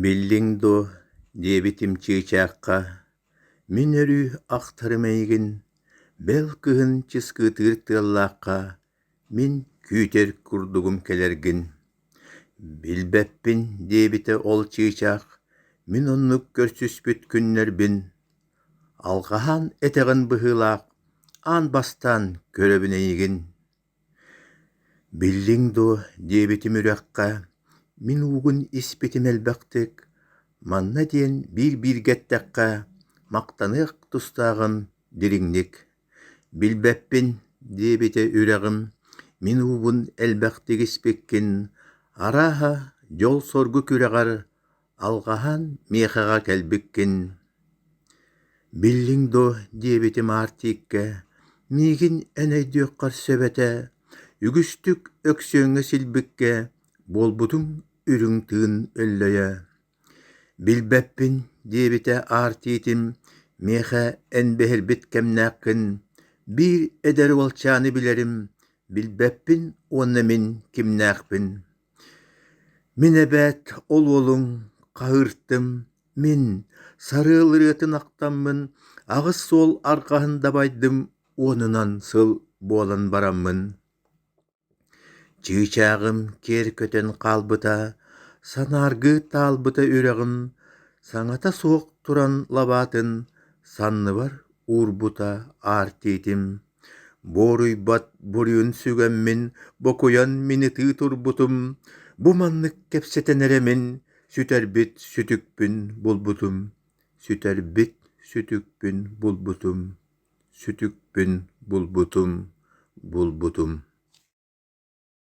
Биллиҥ дуо, диэбитим чыычаахха, мин өрүү ахтарым эйигин, бэл кыһын чыскытыыр тыаллаахха мин күүтэр курдугум кэлэргин. Билбэппин, диэбитэ ол чыычаах, мин оннук көрсүспүт күннэрбин, алҕаһан этэҕин быһыылаах, аан бастаан көрөбүн эйигин Биллиҥ дуо диэбитим үрэххэ, мин уугун испитим элбэхтик, манна диэн биир-бииргэ эттэххэ, махтаныах тустааҕын дириҥник, билбэппин диэбитэ үрэҕим, мин уубун элбэхтик испиккин, арааһа, дьол-соргу күрэҕэр Алҕаһан миэхэҕэ кэлбиккин Биллиҥ дуо диэбитим аартикка Миигин эн өйдүөххэр сөбөтө Үгүстүк Өксүөҥҥэ силбиккэ Буолбутуҥ үрүҥ тыын өллөйө Билбэппин диэбитэ аартиитим Миэхэ эн биһирбит кэмнээххин Биир эдэр уолчааны билэрим Билбэппин уонна мин кимнээхпин Мин эбээт ол уолуҥ, хаһыыртым, мин сарыал ырыатын ахтаммын аҕыс суол арҕаһын дабайдым уонунан сыл буолан бараммын чыычааҕым киэр көтөн хаалбыта, санааргыы таалбыта үрэҕим саҥата суох туран лабаатын санныбар уурбута аартиитим Буоруйбат буруйун сүгэммин, бокуйан минитии турбутум, бу маннык кэпсэтэн эрэ мин сүтэрбит сүтүкпүн булбутум, сүтэрбит сүтүкпүн булбутум, сүтүкпүн булбутум, булбутум